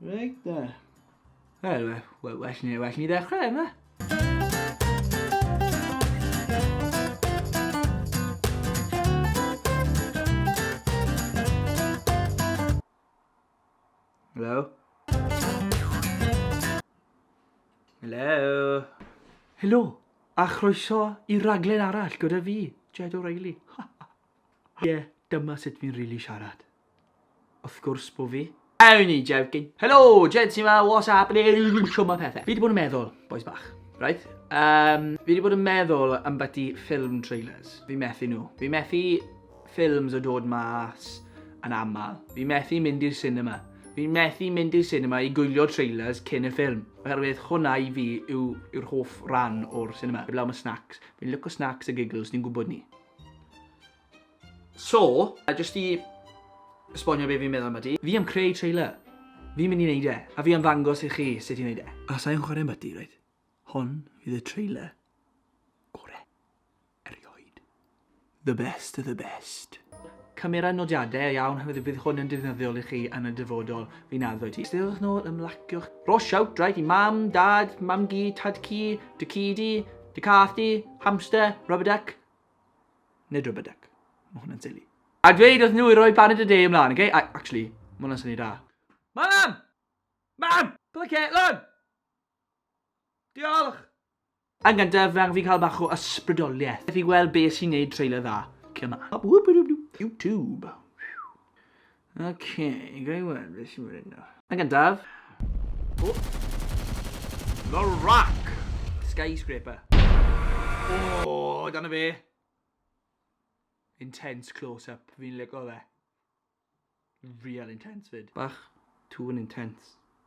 Reit da. Wel, well, well, ni, well ni ddechrau yma. Hello? Hello? Helo, a chroeso i raglen arall gyda fi, Jed O'Reilly. Ie, yeah, dyma sut fi'n rili really siarad. Wrth gwrs bo fi. Only joking. Helo, Jensi ma, what's happening? Shwma pethe. Fi wedi bod yn meddwl, boys bach. Right? Um, fi wedi bod yn meddwl am byti ffilm trailers. Fi methu nhw. Fi methu ffilms o dod mas yn aml. Fi methu mynd i'r cinema. Fi methu mynd i'r cinema i gwylio trailers cyn y ffilm. Oherwydd hwnna i fi yw, yw'r hoff ran o'r cinema. Eblaw mae snacks. Fi'n licio snacks a giggles, ni'n gwybod ni. So, a jyst i esbonio be fi'n meddwl am ydi, fi am creu trailer. Fi'n mynd i neud e, a fi am ddangos i chi sut i neud e. A sa i'n chwarae ambyti, reit? Hon fydd y trailer gore erioed. The best of the best. Camera nodiade iawn oherwydd bydd hwn yn defnyddiol i chi yn y dyfodol, fi'n addo i ti. Steddwch nôl, ymlaciwch. Ro siawt, reit, i mam, dad, mam-gu, tad-cu, dy ci di, dy cath di, hamster, rubber duck, Nid rhybyduc. Mae hwnna'n silly. A dweud wrth nhw i roi Baned y De ymlaen, oce? Okay? Actually, mae hwnna'n syni da. Mam! Mam! Ble Caitlin? Diolch! Yn gyntaf, fe angen fi cael bach o ysbrydoliaeth. Methu gweld be sy'n neud trailer dda. Come on. YouTube. Ok, ga i weld beth sy'n mynd nawr. Yn gyntaf. O! The Rock! Skyscraper. O, dyna fe. Intense close-up, fi'n lico fe. Real intense fyd. Bach too intense.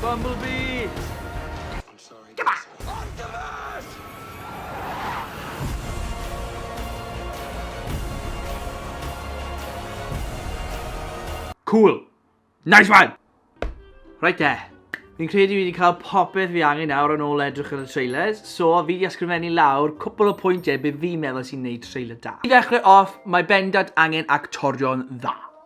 Bumblebee! I'm sorry. Come on! Optimus! Cool. Nice one! Right there. Fi'n credu fi wedi cael popeth fi angen nawr yn ôl edrych yn y trailers, so fi wedi ysgrifennu lawr cwpl o pwyntiau bydd fi'n meddwl sy'n neud trailer da. I ddechrau off, mae bendant angen actorion dda.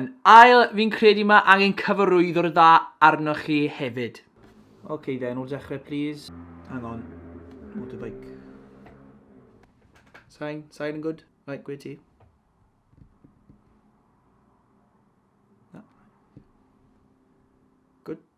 Yn ail, fi'n credu mae angen cyfarwyddo'r dda arnoch chi hefyd. Ok then, o'r dechrau please. Hang on. Motorbike. Sain, sain yn good. Right, gwe ti. Good.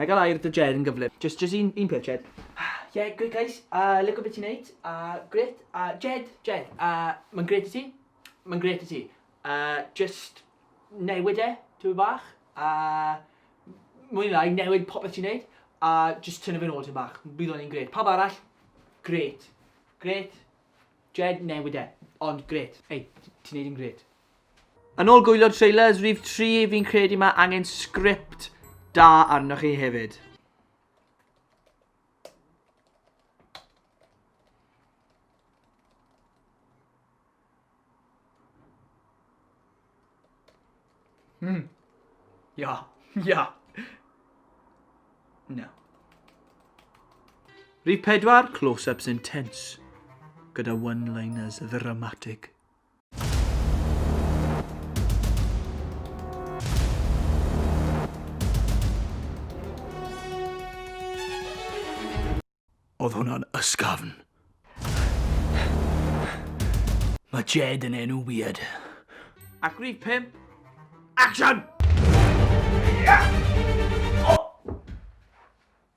Na i gael air dy Jed yn gyflym. Jyst, jyst un, un peth Jed. Ie, gret guys, a lico be ti'n neud, a gret, a Jed, Jed, a mae'n gret i ti, mae'n gret i ti, a jyst newid e, tipyn bach, a mwy na lai newid popeth ti'n neud, a jyst tynnu fe'n ôl tipyn bach, bydd o'n un gret. Pawb arall, gret, gret, Jed, newid e, ond gret. Ei, ti'n neud yn gret. Yn ôl gwylio'r trailers rif tri fi'n credu mae angen sgript da arnoch chi hefyd. Hmm. Ia. Ia. No. Rhif pedwar, close-ups intense, gyda one-liners ddramatig. Oedd hwnna'n ysgafn. Mae Jed yn enw weird. Ac rhif pum. Action! Yeah!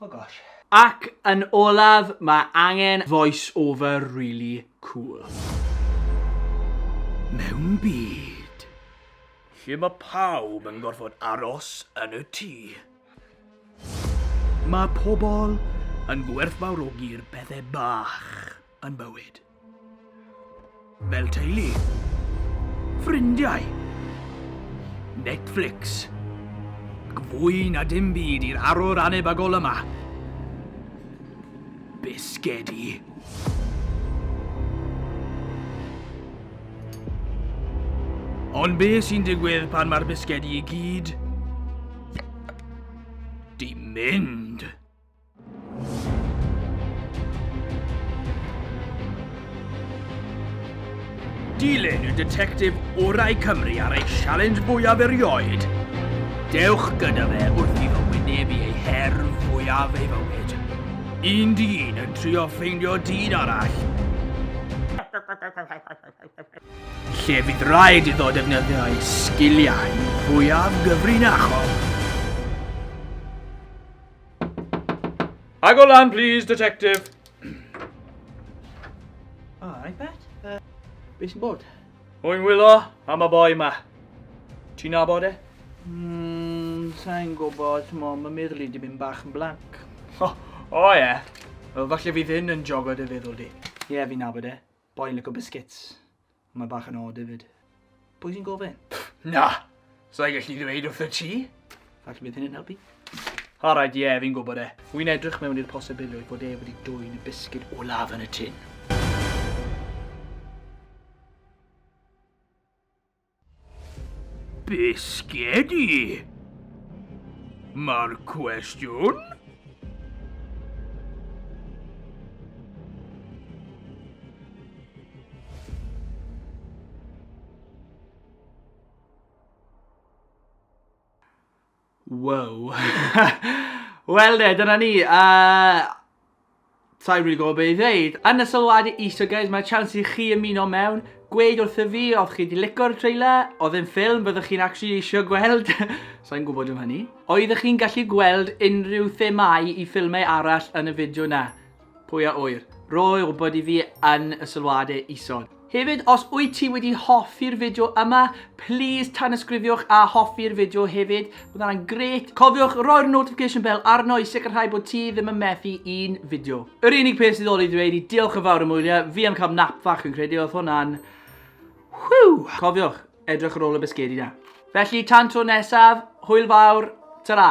Oh gosh. Ac yn olaf mae angen voice over really cool. Mewn byd lle mae pawb yn gorfod aros yn y tŷ, mae pobl yn gwerthfawrogi'r pethe bach yn bywyd. Fel teulu. Ffrindiau. Netflix. Ac fwy na dim byd i'r arwr anebagol yma. Bisgedi. Ond be sy'n digwydd pan mae'r bisgedi i gyd? Di mynd! Dilyn y detectif orau Cymru ar ei sialens fwyaf erioed. Dewch gyda fe wrth i fy wynebu ei her fwyaf ei fywyd. Un dyn yn trio ffeindio dyn arall. Lle bydd rhaid iddo defnyddio ei sgiliau fwyaf gyfrinachol. I go lan, please, detective. O, oh, right, bet. Uh, be sy'n bod? Hwy'n wylo am y boi yma. Ti'n nabod e? Mm, sa'n gwybod, ti'n mo, mae meddwl i di mynd bach yn blanc. O, o ie. Yeah. Wel, falle fydd hyn yn jogo dy feddwl di. Ie, yeah, fi'n nabod e. Boi'n lyco biscuits. Mae bach yn od hefyd. Pwy sy'n gofyn? Na! Sa'i gallu ddweud wrth y ti? Falle bydd hyn yn helpu. Alright, ie, yeah, fi'n gwybod e. Wy'n edrych mewn i'r posibilrwydd bod e wedi dwyn y bisgyd olaf yn y tun. Bisgedi! Mae'r cwestiwn? Wow. Wel de, dyna ni. Uh, Sa'n rili gwybod beth i ddeud. Yn y sylwadau iso, guys, mae chance i chi ymuno mewn. Gweud wrth y fi, oedd chi wedi licor trailer, oedd yn ffilm, byddwch chi'n actually eisiau gweld. Sa'n gwybod am hynny. Oeddech chi'n gallu gweld unrhyw themau i ffilmau arall yn y fideo na? Pwy a ŵyr? Roi wybod i fi yn y sylwadau isod. Hefyd, os wyt ti wedi hoffi'r fideo yma, please tanysgrifiwch a hoffi'r fideo hefyd. Bydd hwnna'n grêt. Cofiwch roi'r notification bell arno i sicrhau bod ti ddim yn methu un fideo. Yr unig peth sydd ôl i ddweud i diolch yn fawr am wylio, fi am cael nap fach yn credu, oedd hwnna'n... Whew! Cofiwch, edrych ar ôl y bisgedi na. Felly, tan tro nesaf, hwyl fawr, ta-ra!